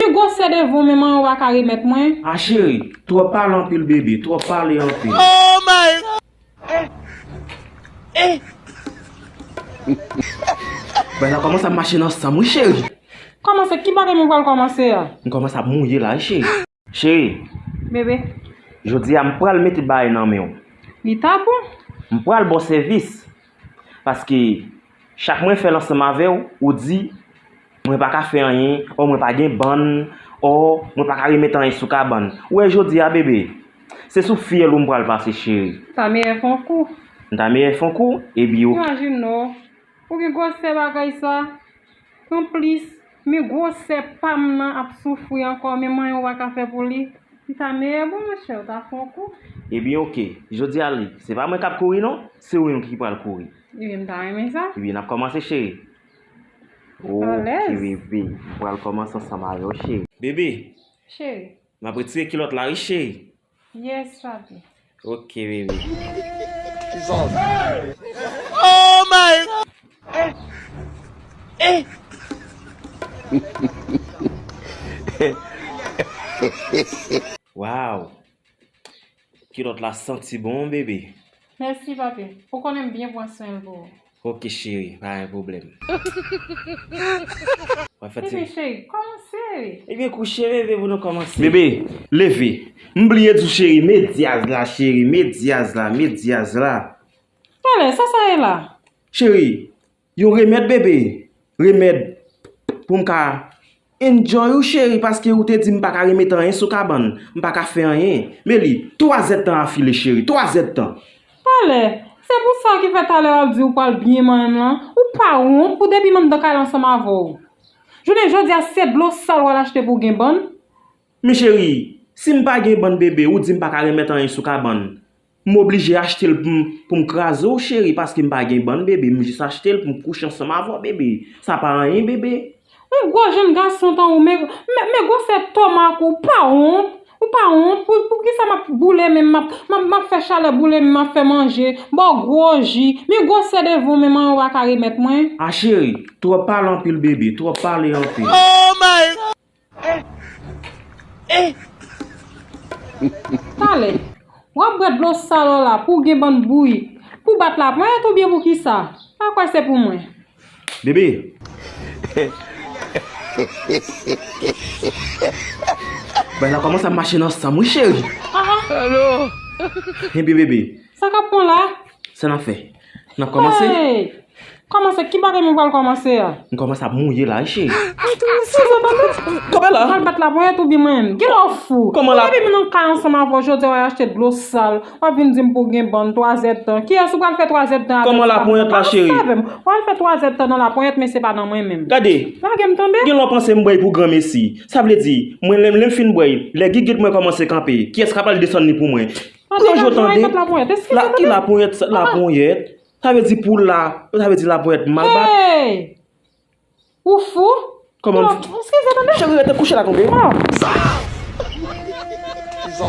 Pu gwosè devon men manmanw pa ka remèt mwen. Ah cheri, twòp pale anpil bebe, twòp pale anpil. Bagay la kòmanse ap mache nan sanm wi cheri. Kòmanse, ki bagay mwen pral kòmanse a? M kòmanse ap mouye la wi cheri. Cheri. Bebe. Jodi a m pral mete bagay nan menw. Li ta bon. M pral baw sèvis. Paske chak mwen fèl ansanm avèw ou di mwen paka fè anyen or mwen pa gen bann or mwen paka remèt anyen sou kabann ou wè jodi a bebe se sou fyèl ou m pral pase cheri. M ta meyè fon kou. M ta meyè fon kou, ebi ou. Imajin non, ou gen gwosè bagay sa, anplis. Men gwosè pam nan ap soufri ankò men m'en ou paka fè pou li li ta meyè bon mon chè ou ta fon kou. Ebyen ok Jodi a li se pa mwen kap kouri non se ou menm ki pral kouri. Ebyen m ta renmen sa. Ebyen nap kòmanse cheri. Ok bebe m pral kòmanse ansanm avèw cheri. Bebe. Cheri. Map retire kilòt la wi cheri. Yes papi. Ok bebe. Oh my god. Waw. Kilot la santi bon bebe. Merci papi. Ou konnen m byen pran swen l pou ou. Ok cheri pa gen problème. Bébé cheri kòmanse. Ebyen kouche bébé pou nou kòmanse. Bébé leve. M bliye di w cheri met dyaz la cheri met dyaz la met dyaz la. Tale sa sa ye la. Cheri yon remèd bébé remèd pou m ka. Enjoy ou cheri paske ou te di m paka remet anyen sou kabann, m paka fè anyen. Men li, 3 zèd tan a file cheri, 3 zèd tan. Pale, se pou sa ki fè talè wap di ou pwal byen manyen m lan, ou pa wont pou depi m anndan kay la ansanm avè w. Jounen jodi a se dlo sal wal achte pou w gen bann? Men cheri, si m pa gen bann bebe ou di m paka remet anyen sou kabann. M oblije achte l pou m kraze w cheri paske m pa gen bann bebe m jis achte l pou m kouche ansanm avè w bebe sa pa anyen bebe. Yon gwo jenn gason tanw men gwosè tomak ou pa wont ou pa wont poukisa map boule menm map fè chalè boule menm map fè manje baw gwo ji men gwosè devanw menm anyen ou paka remèt mwen. A cheri, twòp pale anpil bebe, twòp pale anpil. Talè Wap bwè dlo sal ou la pou gen bann bourik Pou bat la pran et ou byen pou kisa Pa kwè se pou mwen Bébé. Sa nan fè? Nan kòmanse? Hey! Kòmanse? Ki bagay mwen pral kòmanse a? M kòmanse ap mouye la wi cheri. Mwen tou mwen sou zòt anmè. Kòmè la? Ou pral bat laponyèt ou bi mwen? Gen lè w fou. Kòman la? Mwen depi m nan kay ansanm avè w jodi a w al achte dlo sal. W ap vin di m pou w gen bann twazèdtan. Kiyès ou pral fè twazèdtan avè l si pa mwen? Kòman laponyèt la cheri? Kòmanse avè m? W al fè twazèdtan nan laponyèt men se pa nan mwen menm. Gade! Lage m tande! Gen lè w panse m bwèy pou granmesi. Sa vle di, mwen lè m fin bwèy, lè gigit mwen kòmanse kanpe, kiyès k ap al desann li pou mwen? Pou yo jwe tande. Ki la ponyèt sa? La ponyèt. Sa vle di pou la. Sa vle di la ponyèt mal bat. Hey! Ou fou? Kòman m fou? Eskize tande. Cheri rete kouche la tande. Sa! Sa!